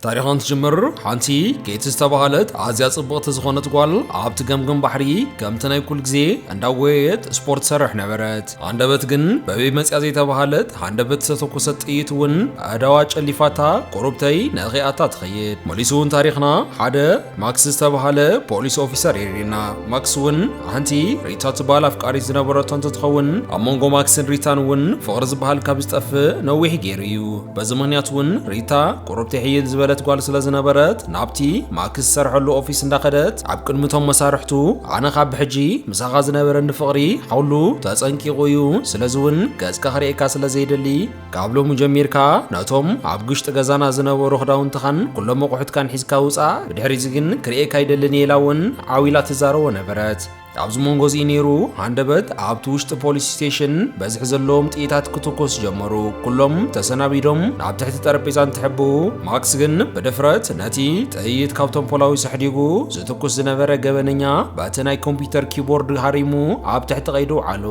ታሪኻ እንትጅምር ሓንቲ ኬቲ ዝተባህለት ኣዝያ ጽብቕቲ ዝኾነት ጓል ኣብቲ ገምገም ባሕሪ ከምቲ ናይ ኩል ግዜ እንዳጎየየት ስፖርት ትሰርሕ ነበረት። ሃንደበት ግን በበይ መጽያ ዘይተባህለት ሃንደበት ዝተተኮሰት ጥይት እውን ኣእዳዋ ጨሊፋታ ቁሩብተይ ነኺኣታ ትኸይድ። መሊሱ እውን ታሪኽና ሓደ ማክስ ዝተባህለ ፖሊስ ኦፊሰር የርእየና። ማክስ እውን ሓንቲ ሪታ ትበሃል ኣፍቃሪት ዝነበረቶ እንትትኸውን ኣብ መንጎ ማክስን ሪታን እውን ፍቕሪ ዝበሃል ካብ ዝጠፍእ ነዊሕ ገይሩ እዩ። በዚ ምኽንያት እውን ሪታ ቁርብቲ ሕይል ዝበለት ጓል ስለ ዝነበረት ናብቲ ማክስ ዝሰርሐሉ ኦፊስ እንዳኸደት ኣብ ቅድሚ እቶም መሳርሕቱ ኣነ ካብ ብሕጂ ምሳኻ ዝነበረኒ ፍቕሪ ሓውሉ ተጸንቂቑ እዩ ስለዚ እውን ገጽካ ክርእየካ ስለ ዘይደሊ ካብ ሎሚ ጀሚርካ ነቶም ኣብ ግሽጢ ገዛና ዝነበሩ ክዳውንትኻን ኩሎም ኣቑሑትካን ሒዝካ ውጻእ ብድሕሪዚ ግን ክርእየካ ኣይደልን እየ ኢላ እውን ዓው ኢላ ትዛረቦ ነበረት። ኣብዚ መንጎ እዚ ነይሩ ሃንደበት ኣብቲ ውሽጢ ፖሊስ ስቴሽን በዝሒ ዘለዎም ጥይታት ክትኮስ ጀመሩ። ኩሎም ተሰናቢዶም ናብ ትሕቲ ጠረጴዛ እንትሕቡ፣ ማክስ ግን ብድፍረት ነቲ ጥይት ካብቶም ፖላዊ ሰሕዲጉ ዝትኩስ ዝነበረ ገበነኛ በቲ ናይ ኮምፒተር ኪቦርድ ሃሪሙ ኣብ ትሕቲ ቀይዲ ኣውዓሎ።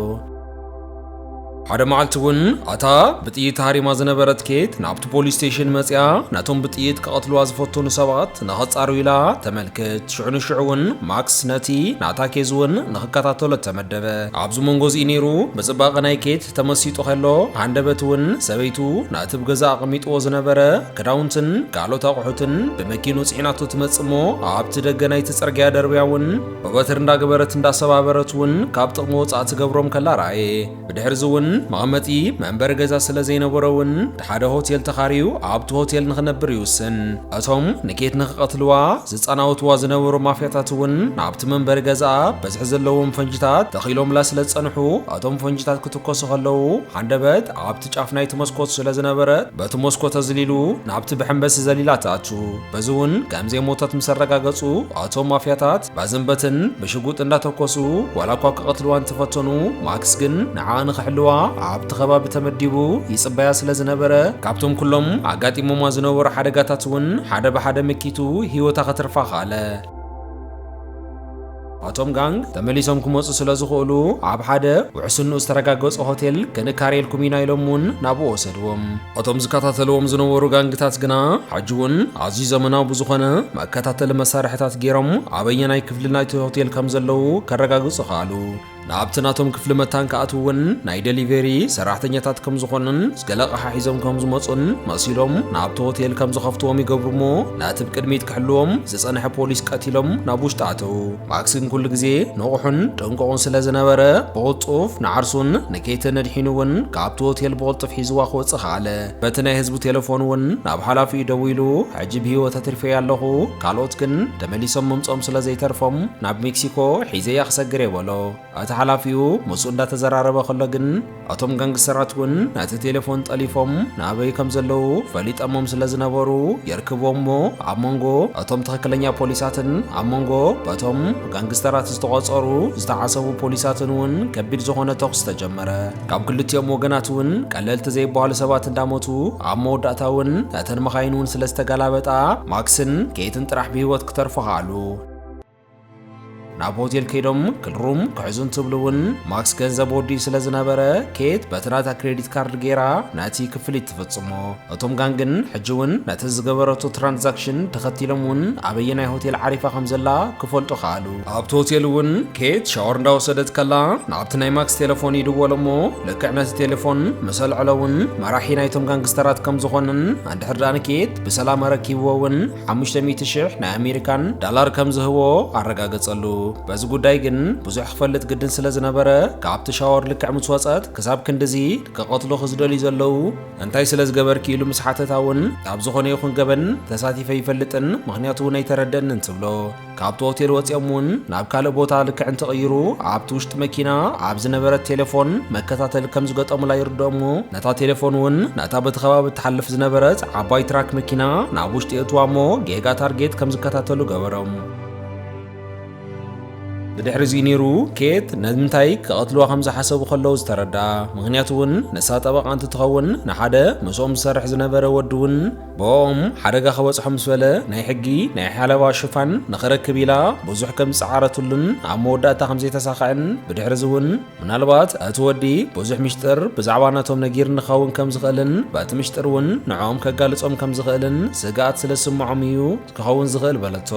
ሓደ መዓልቲ እውን ኣታ ብጥይት ሃሪማ ዝነበረት ኬት ናብቲ ፖሊስ ስቴሽን መፅያ ነቶም ብጥይት ክቐትልዋ ዝፈተኑ ሰባት ንኸፃሩ ኢላ ተመልክት ሽዑ ንሽዑ እውን ማክስ ነቲ ናታ ኬዝ እውን ንኽከታተሎ ተመደበ ኣብዚ መንጎ እዚ ነይሩ ብፅባቐ ናይ ኬት ተመሲጡ ከሎ ሃንደበት እውን ሰበይቱ ነቲ ብገዛ ኣቐሚጥዎ ዝነበረ ክዳውንትን ካልኦት ኣቑሑትን ብመኪኑ ፅዒናቶ ትመፅእ እሞ ኣብቲ ደገ ናይቲ ፅርግያ ደርብያ እውን ብበትሪ እንዳገበረት እንዳሰባበረት እውን ካብ ጥቕሚ ወፃእ ትገብሮም ከላ ረኣየ። ብድሕርዚ እውን መቐመጢ መንበሪ ገዛ ስለ ዘይነበሮ እውን ሓደ ሆቴል ተኻርዩ ኣብቲ ሆቴል ንኽነብር ይውስን። እቶም ንኬት ንኽቐትልዋ ዝፃናወትዋ ዝነበሩ ማፍያታት እውን ናብቲ መንበሪ ገዝኣ ብዝሒ ዘለዎም ፈንጂታት ተኺሎምላ ስለ ዝፀንሑ እቶም ፈንጂታት ክትኮሱ ከለዉ ሃንደበት ኣብቲ ኣብቲ ጫፍ ናይቲ መስኮት ስለ ዝነበረ በቲ መስኮት ኣዝሊሉ ናብቲ ብሐንበሲ ዘሊላ ትኣቱ። በዚ እውን ከም ዘይሞተት ምስ ኣረጋገጹ ኣቶም ማፍያታት በዝን በትን ብሽጉጥ እንዳተኮሱ ዋላ እኳ ክቐትልዋ እንተፈተኑ ማክስ ግን ንዓኣ ንኽሕልዋ ኣብቲ ከባቢ ተመዲቡ ይጽበያ ስለ ዝነበረ ካብቶም ኩሎም ኣጋጢሞማ ዝነበሩ ሓደጋታት እውን ሓደ ብሓደ መኪቱ ህይወታ ከትርፋ ከኣለ። ኣቶም ጋንግ ተመሊሶም ክመጹ ስለ ዝኽእሉ ኣብ ሓደ ውሕስንኡ ዝተረጋገጸ ሆቴል ክንካርየልኩም ኢና ኢሎም እውን ናብኡ ወሰድዎም። እቶም ዝከታተልዎም ዝነበሩ ጋንግታት ግና ሕጂ እውን ኣዝዩ ዘመናዊ ብዝኾነ መከታተሊ መሳርሒታት ገይሮም ኣበየናይ ክፍሊ ናይቲ ሆቴል ከም ዘለዉ ከረጋግጹ ከኣሉ። ናብቲ ናቶም ክፍሊ መታን ክኣትውን ናይ ደሊቨሪ ሰራሕተኛታት ከም ዝኾኑን ገለ ኣቕሓ ሒዞም ከም ዝመጹን መሲሎም ናብቲ ሆቴል ከም ዝኸፍትዎም ይገብሩ እሞ ነቲ ብቅድሚት ክሕልዎም ዝጸንሐ ፖሊስ ቀቲሎም ናብ ውሽጢ ኣተው። ማክስ ግን ኩሉ ግዜ ንቑሕን ጥንቁቕን ስለ ዝነበረ ብቕልጡፍ ንዓርሱን ንኬትን ኣድሒኑ እውን ካብቲ ሆቴል ብቕልጡፍ ሒዝዋ ክወጽእ ከኣለ። በቲ ናይ ህዝቡ ቴለፎን እውን ናብ ሓላፊኡ ደዊሉ ሕጂ ብህይወት ኣትሪፈያ ኣለኹ፣ ካልኦት ግን ተመሊሶም ምምጽኦም ስለ ዘይተርፎም ናብ ሜክሲኮ ሒዘያ ክሰግር እየ በሎ። እቲ ሓላፊኡ ምስኡ እንዳተዘራረበ ከሎ ግን እቶም ጋንግስተራት እውን ነቲ ቴለፎን ጠሊፎም ናበይ ከም ዘለዉ ፈሊጠሞም ስለ ዝነበሩ የርክብዎም እሞ ኣብ መንጎ እቶም ትኽክለኛ ፖሊሳትን ኣብ መንጎ በቶም ጋንግስተራት ዝተቖጸሩ ዝተዓሰቡ ፖሊሳትን እውን ከቢድ ዝኾነ ተኹሲ ተጀመረ። ካብ ክልቲኦም ወገናት እውን ቀለልቲ ዘይበሃሉ ሰባት እንዳሞቱ ኣብ መወዳእታ እውን እተን መኻይን እውን ስለ ዝተገላበጣ ማክስን ኬትን ጥራሕ ብህይወት ክተርፉ ከኣሉ። ናብ ሆቴል ከይዶም ክልሩም ክሕዙ እንትብሉ እውን ማክስ ገንዘብ ወዲኡ ስለ ዝነበረ ኬት በቲ ናታ ክሬዲት ካርድ ገይራ ነቲ ክፍሊት ትፍጽሞ። እቶም ጋንግን ሕጂ እውን ነቲ ዝገበረቶ ትራንዛክሽን ተኸቲሎም እውን ኣበየናይ ሆቴል ዓሪፋ ከም ዘላ ክፈልጡ ከኣሉ። ኣብቲ ሆቴል እውን ኬት ሻወር እንዳወሰደት ከላ ናብቲ ናይ ማክስ ቴለፎን ይድወሉ እሞ ልክዕ ነቲ ቴለፎን ምስ ኣልዐሎ እውን መራሒ ናይቶም ጋንግስተራት ከም ዝኾነን እንድሕር ደኣ ንኬት ብሰላም ኣረኪብዎ እውን ሓሙሽተ ሚእቲ ሽሕ ናይ ኣሜሪካን ዳላር ከም ዝህቦ ኣረጋገጸሉ። በዚ ጉዳይ ግን ብዙሕ ክፈልጥ ግድን ስለ ዝነበረ ካብቲ ሻወር ልክዕ ምስ ወጸት ክሳብ ክንድዚ ክቐትሉ ክዝደልዩ ዘለዉ እንታይ ስለ ዝገበርኪ ኢሉ ምስ ሓተታ እውን ኣብ ዝኾነ ይኹን ገበን ተሳቲፈ ይፈልጥን ምክንያቱ እውን ኣይተረደእንን ትብሎ። ካብቲ ሆቴል ወፂኦም እውን ናብ ካልእ ቦታ ልክዕ እንትቕይሩ ኣብቲ ውሽጢ መኪና ኣብ ዝነበረት ቴሌፎን መከታተሊ ከም ዝገጠሙላ ይርድኦም እሞ ነታ ቴሌፎን እውን ነታ በቲ ከባቢ እትሓልፍ ዝነበረት ዓባይ ትራክ መኪና ናብ ውሽጢ የእትዋ እሞ ጌጋ ታርጌት ከም ዝከታተሉ ገበሮም። ብድሕሪ እዚ ነይሩ ኬት ነምንታይ ክቐትልዋ ከም ዝሓሰቡ ከለዉ ዝተረድኣ ምክንያቱ እውን ንሳ ጠበቓ እንትትኸውን ንሓደ ምስኦም ዝሰርሕ ዝነበረ ወዲ እውን ብኦም ሓደጋ ክበፅሖ ምስ በለ ናይ ሕጊ ናይ ሓለባ ሽፋን ንኽረክብ ኢላ ብዙሕ ከም ዝፀዓረትሉን ኣብ መወዳእታ ከም ዘይተሳኽዐን ብድሕሪ እዚ እውን ምናልባት እቲ ወዲ ብዙሕ ምሽጥር ብዛዕባ ነቶም ነጊር ንኸውን ከም ዝኽእልን በቲ ምሽጥር እውን ንዕኦም ከጋልፆም ከም ዝኽእልን ስግኣት ስለ ዝስምዖም እዩ ክኸውን ዝኽእል በለቶ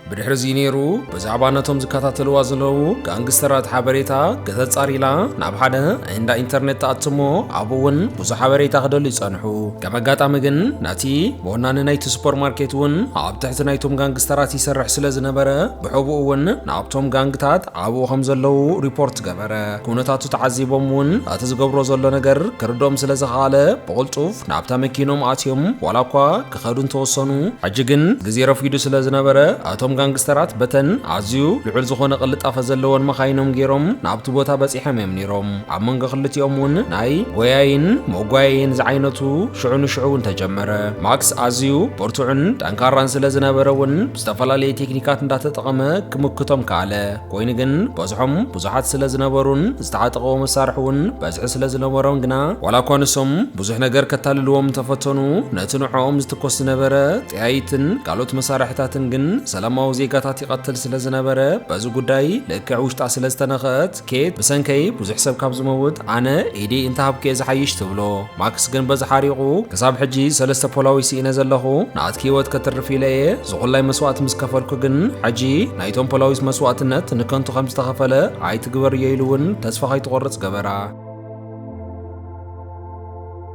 ብድሕሪ እዚ ነይሩ ብዛዕባ ነቶም ዝከታተልዋ ዘለዉ ጋንግስተራት ሓበሬታ ከተጻር ኢላ ናብ ሓደ እንዳ ኢንተርነት ተኣትሞ ኣብኡ እውን ብዙሕ ሓበሬታ ክደልዩ ጸንሑ። ከም ኣጋጣሚ ግን ነቲ ወናኒ ናይቲ ሱፐርማርኬት እውን ኣብ ትሕቲ ናይቶም ጋንግስተራት ይሰርሕ ስለ ዝነበረ ብሕቡእ እውን ናብቶም ጋንግታት ኣብኡ ከም ዘለዉ ሪፖርት ገበረ። ኩነታቱ ተዓዚቦም እውን እቲ ዝገብሮ ዘሎ ነገር ክርድኦም ስለ ዝኸኣለ ብቕልጡፍ ናብታ መኪኖም ኣትዮም ዋላ እኳ ክኸዱ እንተወሰኑ፣ ሕጂ ግን ግዜ ረፊዱ ስለ ዝነበረ፣ ኣቶም ጋንግስተራት በተን ኣዝዩ ልዑል ዝኾነ ቅልጣፈ ዘለወን መኻይኖም ጌሮም ናብቲ ቦታ በጺሖም እዮም ኔሮም። ኣብ መንጎ ክልቲኦም እውን ናይ ጎያይን መጓየይን ዝዓይነቱ ሽዑ ንሽዑ እውን ተጀመረ። ማክስ ኣዝዩ ብርቱዕን ጠንካራን ስለ ዝነበረ እውን ብዝተፈላለየ ቴክኒካት እንዳተጠቐመ ክምክቶም ከኣለ። ኮይኑ ግን በዝሖም ብዙሓት ስለ ዝነበሩን ዝተዓጠቐዎ መሳርሒ እውን በዝሒ ስለ ዝነበሮም ግና ዋላ እኳ ንሶም ብዙሕ ነገር ከታልልዎም እንተፈተኑ ነቲ ንዕኦም ዝትኮስ ዝነበረ ጠያይትን ካልኦት መሳርሕታትን ግን ሰላማዊ ዜጋታት ይቐትል ስለ ዝነበረ በዚ ጉዳይ ልክዕ ውሽጣ ስለ ዝተነኸአት ኬት ብሰንከይ ብዙሕ ሰብ ካብ ዝመውት ኣነ ኢደይ እንተሃብኩ'የ ዝሓይሽ ትብሎ። ማክስ ግን በዚ ሓሪቑ፣ ክሳብ ሕጂ ሰለስተ ፖላዊ ስኢነ ዘለኹ፣ ንኣትኪ ህይወት ከትርፍ ኢለ እየ፣ ዝኹላይ መስዋእቲ ምስ ከፈልኩ ግን፣ ሕጂ ናይቶም ፖላዊስ መስዋእትነት ንከንቱ ከም ዝተኸፈለ ኣይትግበርዮ ኢሉ እውን ተስፋ ከይትቖርጽ ገበራ።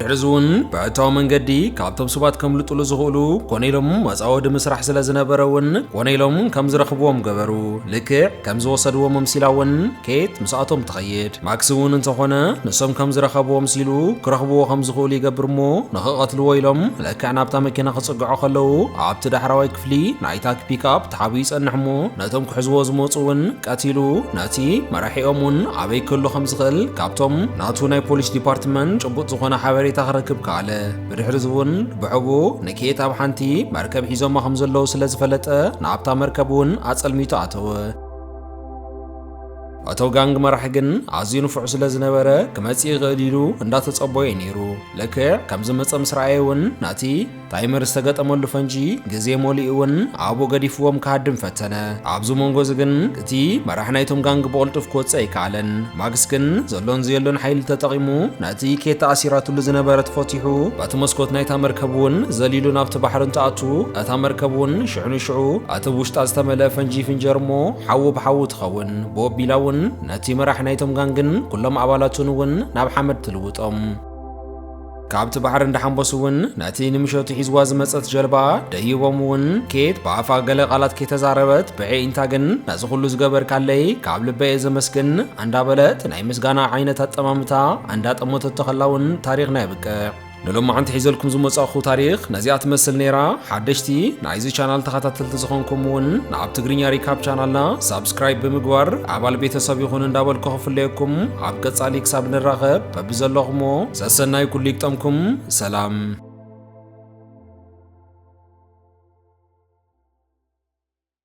ድሕሪዚ እውን ብሕታዊ መንገዲ ካብቶም ሰባት ከምልጡሉ ዝኽእሉ ኮነ ኢሎም መጻወዲ ምስራሕ ስለ ዝነበረ እውን ኮነ ኢሎም ከም ዝረኽብዎም ገበሩ። ልክዕ ከም ዝወሰድዎም ኣምሲላ እውን ኬት ምስኣቶም ተኸ ይኸይድ። ማክስ እውን እንተኾነ ንሶም ከም ዝረኸብዎ ኣምሲሉ ክረኽብዎ ከም ዝኽእሉ ይገብር እሞ ንኽቐትልዎ ኢሎም ልክዕ ናብታ መኪና ክጽግዑ ከለዉ ኣብቲ ዳሕራዋይ ክፍሊ ናይታ ፒክኣፕ ተሓቢኡ ይጸንሕ እሞ ነቶም ክሕዝዎ ዝመጹ እውን ቀቲሉ ነቲ መራሒኦም እውን ኣበይ ክህሉ ከም ዝኽእል ካብቶም ናቱ ናይ ፖሊስ ዲፓርትመንት ጭቡጥ ዝኾነ ሓበሬታ ክረክብ ከኣለ። ብድሕሪዚ እውን ብሕቡእ ንኬት ኣብ ሓንቲ መርከብ ሒዞማ ከም ዘለዉ ስለ ዝፈለጠ ናብታ መርከብ እውን ኣጸልሚቱ ኣተወ። እቶ ጋንግ መራሒ ግን ኣዝዩ ንፉዕ ስለ ዝነበረ ክመጽእ ይኽእል ኢሉ እንዳተጸቦየ ነይሩ። ልክዕ ከም ዝመጸ ምስ ረኣየ እውን ነቲ ታይመር ዝተገጠመሉ ፈንጂ ግዜ መሊኡ እውን ኣብኡ ገዲፍዎም ክሃድም ፈተነ። ኣብዚ መንጎ እዚ ግን እቲ መራሒ ናይቶም ጋንግ ብቕልጡፍ ክወጽእ ኣይከኣለን። ማክስ ግን ዘሎን ዘየሎን ሓይሊ ተጠቒሙ ነቲ ኬት ተኣሲራትሉ ዝነበረት ፈቲሑ በቲ መስኮት ናይታ መርከብ እውን ዘሊሉ ናብቲ ባሕሪ እንትኣቱ እታ መርከብ እውን ሽዑ ንሽዑ ኣቲ ብ ውሽጣ ዝተመልኣ ፈንጂ ይፍንጀር እሞ ሓዊ ብ ሓዊ ትኸውን ብ ኣቢላ ውን ነቲ መራሒ ናይቶም ጋንግን ኩሎም ኣባላቱን ውን ናብ ሓመድ ትልውጦም። ካብቲ ባሕሪ እንዳሓንበሱ ውን ነቲ ንምሸቱ ሒዝዋ ዝመጸት ጀልባ ደይቦም ውን ኬት ብ ኣፋ ገለ ቃላት ከይተዛረበት ብ ኣዒንታ ግን ነዚ ኩሉ ዝገበርካለይ ካብ ልበይ እየ ዘመስግን ኣንዳበለት ናይ ምስጋና ዓይነት ኣጠማምታ ኣንዳጠመተቶ ከላ ውን ታሪኽና የብቅዕ። ንሎማዓንቲ ሒዘልኩም ዝመጻእኹ ታሪኽ ነዚኣ ትመስል ነይራ። ሓደሽቲ ናይዚ ቻናል ተኸታተልቲ ዝኾንኩም እውን ናብ ትግርኛ ሪካፕ ቻናልና ሳብስክራይብ ብምግባር ኣባል ቤተሰብ ይኹን እንዳበልኩ ክፍለየኩም ኣብ ቀጻሊ ክሳብ ንራኸብ በብዘለኹሞ ሰሰናይ ኩሉ ይግጠምኩም። ሰላም